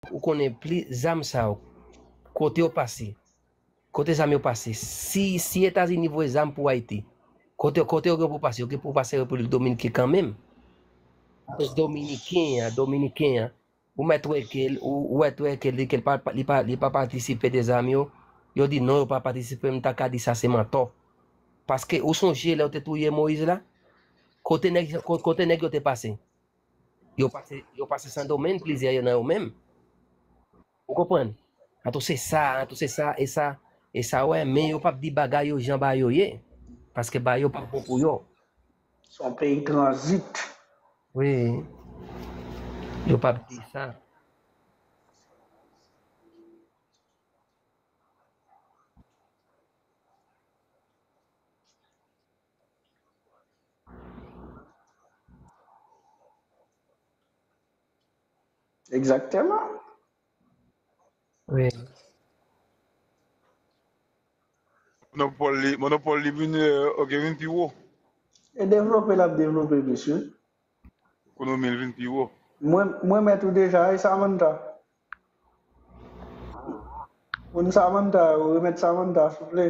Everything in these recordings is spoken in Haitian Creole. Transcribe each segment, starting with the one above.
Ou konnen pli zam sa yo kote yo pase kote zam yo pase si si etazini voye zam pou ayiti kote kote yo gen pou pase yo gen pou pase repiblik dominike kanmenm apres dominiken an dominiken an ou mèt wè kel ou ou mèt wè kel li kel pa li pa li pa patisipe de zam yo yo di non yo pa patisipe m ta ka di sa se mantò paske ou sonje lè yo te touye moyiz la kote nèg kote nèg yo te pase Yo pase yo pase Sandomeng plizyè yo nan yo menm. Ou konprann? Antou se sa, antou se sa e sa e sa wè men yo pap di bagay yo jan ba yo ye. Paske ba yo pap bon pou yo. Se yon peyi tranzit. Wi. Yo pap di sa. Exactement. Oui. Monopole li, monopole li vin, euh, ok, vin pi wo. E devlope l ap devlope misye. Ekonomi l vin pi wo. Mwen, mwen met ou deja, e Samantha. Moun Samantha, ou remet Samantha, souple.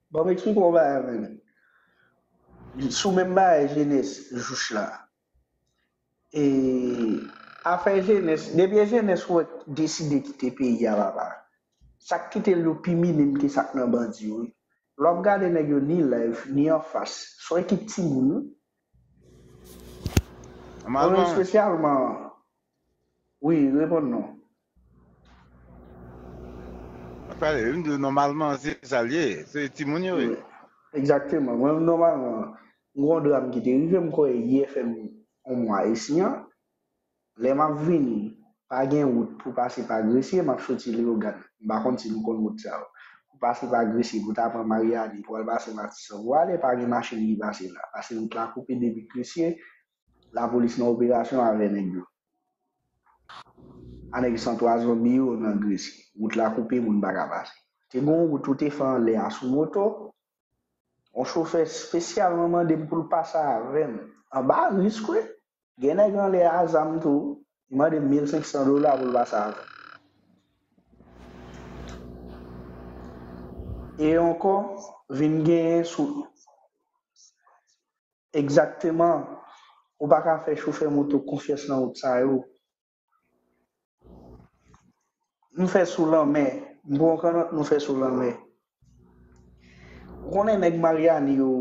Banm explike yon bagay avèm li sou menm bagay jenès juch la e afè jenès debyen jenès wè deside kite peyi a papa sak kitel yo pi minim ke sak nan bandi yo wi lè wap gade nèg yo ni live ni anfas son ekip timoun wi mwen espesyalman wi reponn non. Pale, mdi w nòmalman se sa l ye, se timoun yo ye. Egzakteman, mwen menm nòmalman, m gen yon dram ki te rive m kwè yè fè m yon mwa isi an, lè m ap vini pa gen wout pou pase pa Gresye, m ap soti Leyogàn, m pa konn si nou konn wout sa yo, pou pase pa Gresye pou ta pran Maryani pou al pase Matisan pou ale, pa gen machin ki pase la, pase wout la koupe depi Gresye, lapolis nan operasyon avè nèg yo. Anèk san pwazon mi yo nan Gresye. Wout la koupe, moun pa ka pase. Te gen yon wout yo te fè anlè a sou moto. Yon chofè spesyalman mande m pou l pase avè m. Anba risk wi. Gen nèg anlè a zam tou, li mande m 1500 dola pou l pase avè m. E ankò, vin genyen sou. Egzakteman! Ou pa ka fè chofè moto konfyans nan wout sa yo. Nou fè sou lanmè. M pran w kannòt nou fè sou lanmè. Ou konnen nèg Maryani yo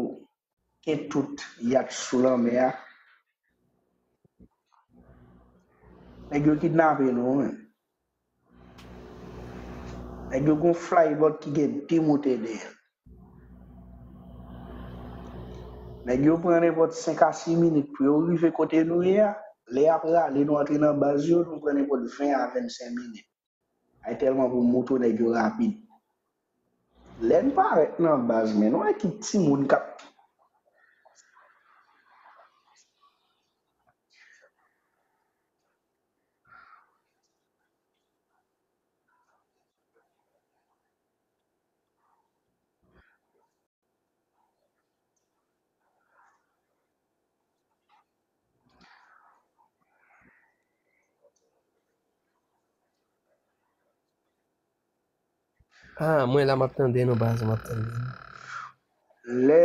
gen tout yat sou lanmè a. Nèg yo kidnape nou wi. Nèg yo gon flybot ki gen 2 motè dèyè l. Nèg yo pran nenpòt 5 a 6 minit pou yo rive kote nou ye a, lè y ap rale nou antre nan baz yo, nou pran nenpòt 20 a 25 minit. Ay tèlman pou moto nèg yo rapid. Lè n parèt nan baz men, nou wè ki timoun k ap. Ah, mwen la map tande nou baz, map tande nou. Lè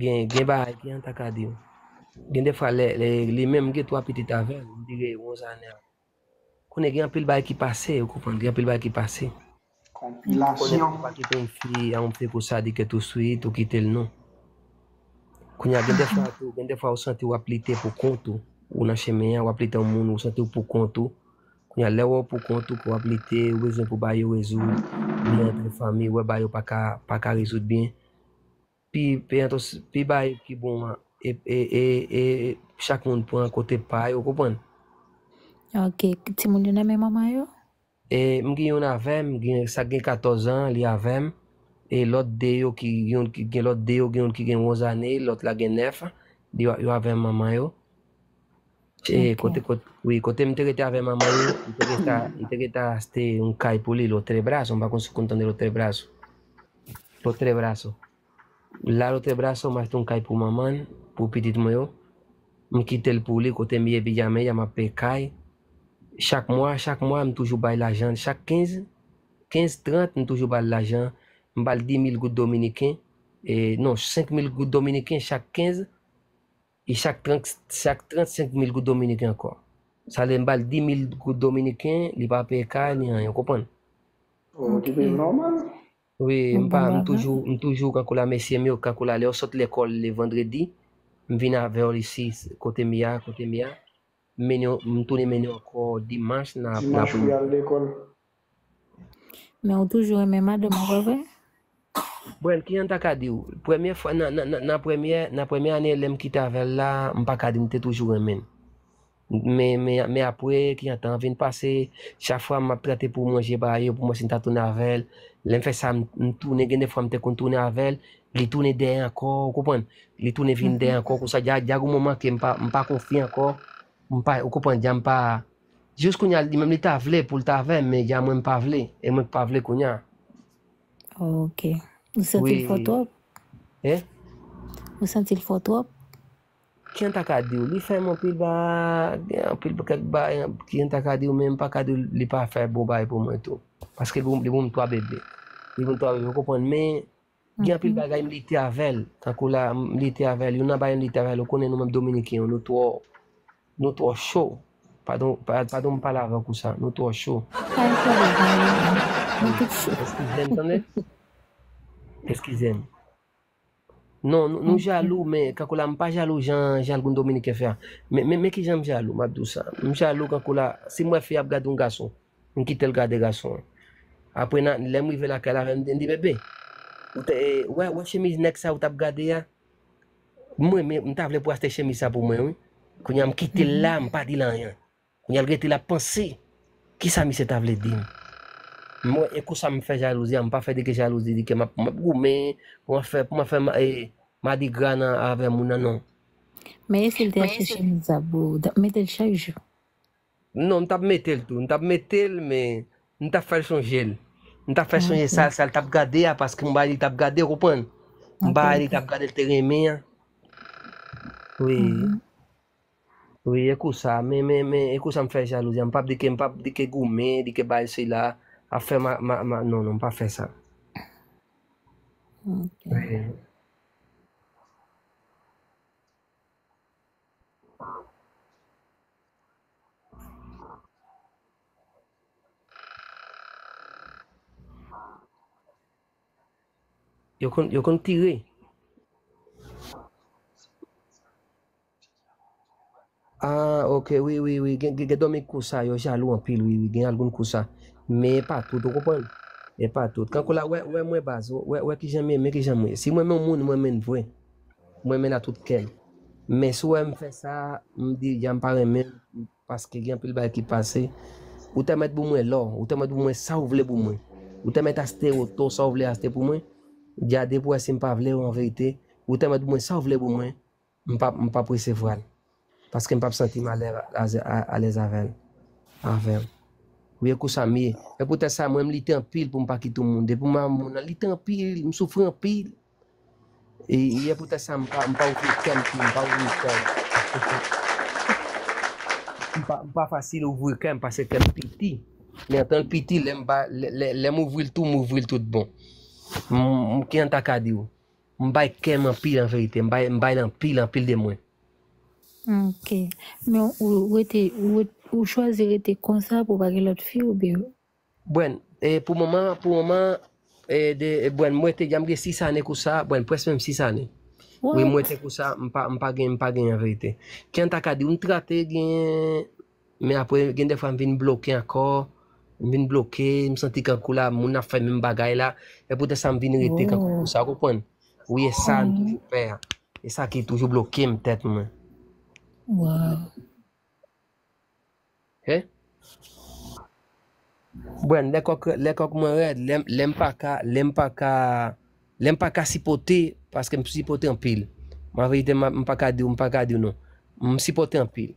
Gen gen bagay Kian ta ka diw. Gen de fwa lè lè li menm gen 3 pitit avèl m dire Rosane a konnen gen anpil bagay ki pase ou konprann gen anpil bagay ki pase konnen Konpilasyon. pa kite yon fi a yon peko sadike tou swit ou kitel non kounya gen de fwa tou gen de fwa ou santi wap lite pou kont ou ou nan chemen an wap lite yon moun ou santiw pou kont ou kounya lè wèw pou kont ou ke wap lite ou bezwen pou bagay yo rezoud li antre fanmi wè bagay yo paka paka rezoud byen Pi entos pi bay ki bon an e e e chak moun pran kote pa yo konprann. Ok timoun yo nan men manman yo? E m gen youn avèm gen sak gen 14 an li avèm e lòt 2 yo ki yon ki gen lòt 2 yo gen youn ki gen 11 ane lòt la gen 9 yo avèm manman yo. E kote kote, oui, kote m te rete avè manman yo, m te rete a, m te rete a ste yon kay pou li, lotre braso, m pa kon si kon tande lotre braso. Lotre braso. La lotre braso, m achte yon kay pou manman, pou pitit mwen yo. M kite l pou li, kote m ye pi jamen ya m ap pe kay. Chak mwa, chak mwa, m toujou bay lajan, chak 15, 15, 30, m toujou bal lajan. M bal 10 mil goud dominiken, e non, 5 mil goud dominiken chak 15. E chak chak 35 mil goud dominiken ankò. Sa lè m ba l 10 mil goud dominiken, li pa peye kay ni anyen, ou konprann? Ou ki viv nòmal. Wi, m pa m toujou m toujou kankou la mesye m yo kankou la lè yo sot lekòl le vandredi, m vin avè yo isi kote m ye a, kote m ye a. M mennen yo, m tounen mennen yo ankò dimanch nan Dimanch pou y al lekòl. Men ou toujou renmen madanm ou pa vre? Brèn, kijan m ta ka di ou? Premye fwa, nan, nan, nan, nan premye, nan premye ane lè m kite avè l la, m pa ka di m te toujou renmen l. Men, men, men apre, kijan tan an vin pase, chak fwa m ap trate pou mwen je ba yo, pou mwen si m ta tounen avè l, lè m fè sa, m, m tounen, gen de fwa m te konn tounen avè l, li tounen dèyè ankò, ou konprann? Li tounen vin dèyè ankò, konsa, dja, dja g'on moman ke m pa, m pa konfye ankò, m pa, ou konprann, dja m pa. Jis kounya li menm li ta vle poul ta avèm men ya mwen mpa vle e mwen k pa vle kounya. Ok. Ou santi l fò twòp? Hein? Ou santi l fò twòp? Kijan m ta ka diw, li fèm anpil bagy, gen anpil kèk bagy kijan m ta ka diw men m pa ka diw li pa fè bon bagy pou mwen tou. Paske li pou m 3 bebe. Li pou m 3 bebe ou konprann men Gen anpil bagay m lite avèl, tankou la m lite avèl, youn nan bagay m lite avèl ou konnen nou menm dominiken yo nou twò nou twò cho, padon padon m pale avèk ou sa, nou twò cho. Eskize m tande, eskize m. Non nou jalou men kankou la m pa jalou jan jalgoun dominiken fè a, men men kijan m jalou m ap di w sa, m jalou kankou la si m wè fi ap gade yon gason. M kitel gade gason an. Apre na lem rive lakay la avem di bebe ou te wè wè chemiz nèg sa ou tap gade a m renmen m ta vle pou achte chemiz sa pou mwen wi kounya m kitel la m pa dil anyen kounya l rete lap panse kisa misye ta vle dim m wè e kousa m fè jalouzi a m pa fè dege jalouzi di ke map goumen pou mwen fè pou mwen fè madigra nan avè moun nan non. Men e sil te achte chemiz sa pou ou tap metel chak jou. Non m tap metel tou, m tap metel men m tap fèl sonjel, m tap fèl sonje sa sal tap gade a paske m bay li tap gade ou konprann, m bay li tap gade l te renmen an. Wi, wi e kou sa men men men e kou sa m fè jalouzi m pap di ke m pap di ke goumen di ke bay sila ap fè ma ma ma non non m pa fè sa. Yo konn, yo konn tire. Ah, ok, wi, wi, wi, gen, gen domi kou sa, yo jalou anpil, wi, wi, gen algoun kou sa. Men e pa tout, ou konprann? E pa tout. Kankou la, wè, wè mwen baz, wè, wè ki jan mwen, men ki jan mwen. Si mwen men moun, mwen men vre. M renmen n a tout kè m. Men si w wè m fè sa, m di jan m pa renmen l paske gen anpil bagay ki pase. Ou ta mèt bou mwen lò, ou ta mèt bou mwen sa ou vle bou mwen. Ou ta mèt achte oto sa ou vle achte pou mwen. Dja depi w wè si m pa vle w anverite, ou ta mèt bou mwen sa ou vle bou mwen, m pa presevwa l. Paske m pap santi m alèz avè l. Wi ekou sa m ye. E poutèt sa mwen m lite anpil pou m pa kite yon moun. Depi mwen avè yon moun nan lite anpil, m soufri anpil. E poutèt sa m pa ouvri kè m tou. M pa ouvri kè m. M pa fasil ouvri kè m paske kè m piti. Men antan l piti, lè m ouvri l tou, m ouvri l tout bon. M kijan m ta ka di w. M bay kèm anpil anverite. M bay l anpil anpil de mwen. Ok. Men ou rete, ou chwazi rete konsa pou pa gen lòt fi oubyen? Bwèn, pou moman, pou moman, bwèn mwen te janm gen 6 ane kousa, bwèn pwès menm 6 ane. Wi mwen te kousa, m pa gen, m pa gen anverite. Jan ta ka di w, m trate gen. Men apre gen dèfwa m vin bloke ankò, m vin bloke, m santi kankou la moun ap fè menm bagay la, se poutèt sa m vin rete kankou konsa, ou konprann? Wi e sa m toujou pè a, e sa ki toujou bloke m tèt mwen. He? Brenn, lè kòk lè kòk mwen rèd, lè lè m pa ka, lè m pa ka, lè m pa ka sipòte paske m sipòte anpil. An verite m pa ka di w, m pa ka di w non. M sipòte anpil.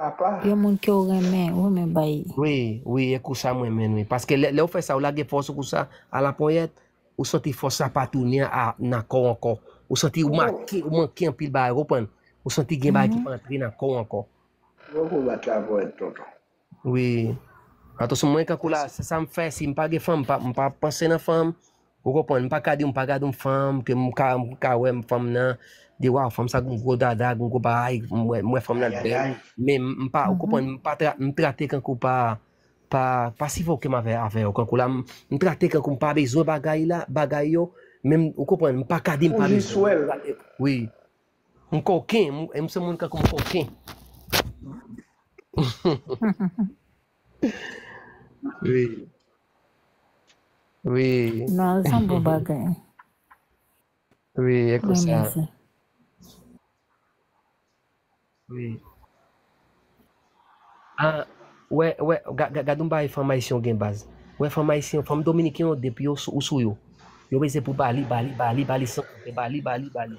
apa. Yon moun kew renmen wi men bay. Wi wi e kousa m renmenn wi paske lè ou fè sa ou lage fòs ou kousa a la ponyèt ou santi fòs la pa tounen a nan kòw ankò ou santi ou make ou manke anpil bagay ou konprann ou santi gen bagay ki pa antre nan kòw ankò Fòk ou bat la ponyèt tonton. Wi atanson mwen kankou la se sam fè sim pa gen fanm m pa panse nan fanm Ou konprann, m pa ka di m pa gad yon fanm ke m ka m ka wè fanm nan, di waw fanm sa gon gwo dada, gon gwo bagay, m wè m wè fanm nan bèl, men m pa ou konprann, m pa tra m trate kankou pa pa pa sifoke m avè avè yo kankou la m m trate kankou m pa bezwen bagay la bagay yo men m ou konprann m pa ka di m pa bezwen wi m koken m se moun kankou m koken Wi. Wi. Nan zan bon bagay. Wi, e kon sa. Wi. A, wè, wè, gad yon bagay fanm ayisyen gen baz. Wè fanm ayisyen, fanm dominiken yo depi yo sou yo. Yo beze pou bali, bali, bali, bali san, bali, bali, bali.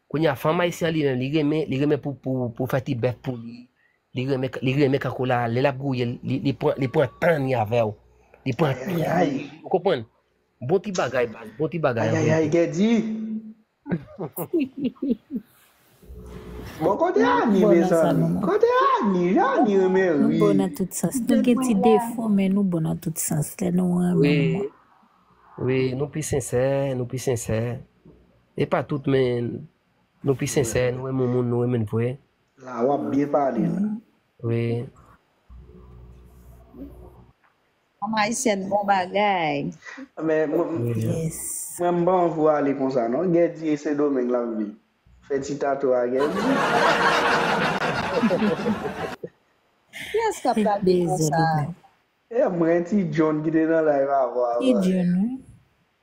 Kounya fanm ayisyen an li menm li renmen li renmen pou pou pou fè ti bèf pou li li renmen li renmen kankou la lè lap gouye l li li pran li pran tan li avèw li pran tan li avèw ou konprann bon ti bagay baz bon ti bagay an verite. Bon kote Annie mezanmi kote Annie jan Annie renmen rii. Nou bon nan tout sans nou gen ti defo men nou bon nan tout sans lè nou renmen wi wi nou pi sensè nou pi sensè Epa tout men Nou pi sensè Nou renmen moun Nou renmen vre. La wap byen pale la. Wi. Fanm ayisyèn bon bagay. Men mwen m pa anvi w ale konsa non. Guerdy e sendomeng lap viv. Fè ti tato a Guerdy. Kiyès kap gade konsa. Mwen ti John ki te nan live avan a pale.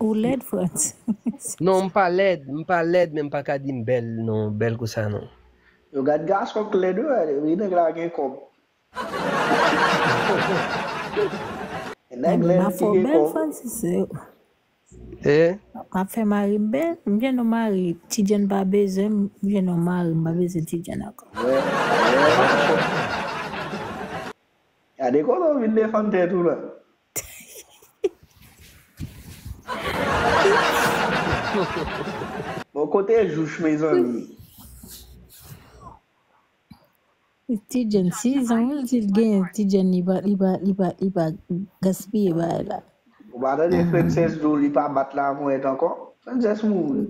Ou lèd frantz. Non m pa lèd m pa lèd men m paka di m bèl non bèl kou sa non. Yo gad gason k lèd wi nèg la gen kòb. Nèg lèd ki gen kòb. Eeh. Ap fè mari m bèl m gen yon mari ti jenn pa bezwen m m gen yon mari m pa bezwen ti jenn ankò. Gade kote w vin defann tèt ou la. Bon kote jouch mezanmi. Ti Jenn 6 ans wi li gen ti Jenn li pa li pa li pa li pa gaspiye bagay la. Ou pa tande Princess di w li pa bat la ponyèt ankò? Princess mouri.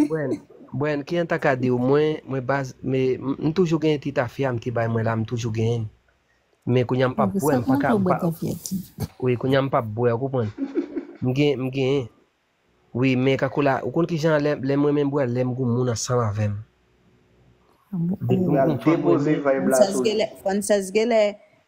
Bryan, Bryan ki an ta ka diw mwen mwen baz me m toujou genyen ti tafya m te bay mwen la m toujou genyen l men kounya m pap bwè m paka m pa wi kounya m pap bwè ou konprann m gen m genyen wi men kako la ou konn kijan lè lèm renmen bwè lèm gou moun ansanm avèm Pral depoze vibe la sou li. Frances genlè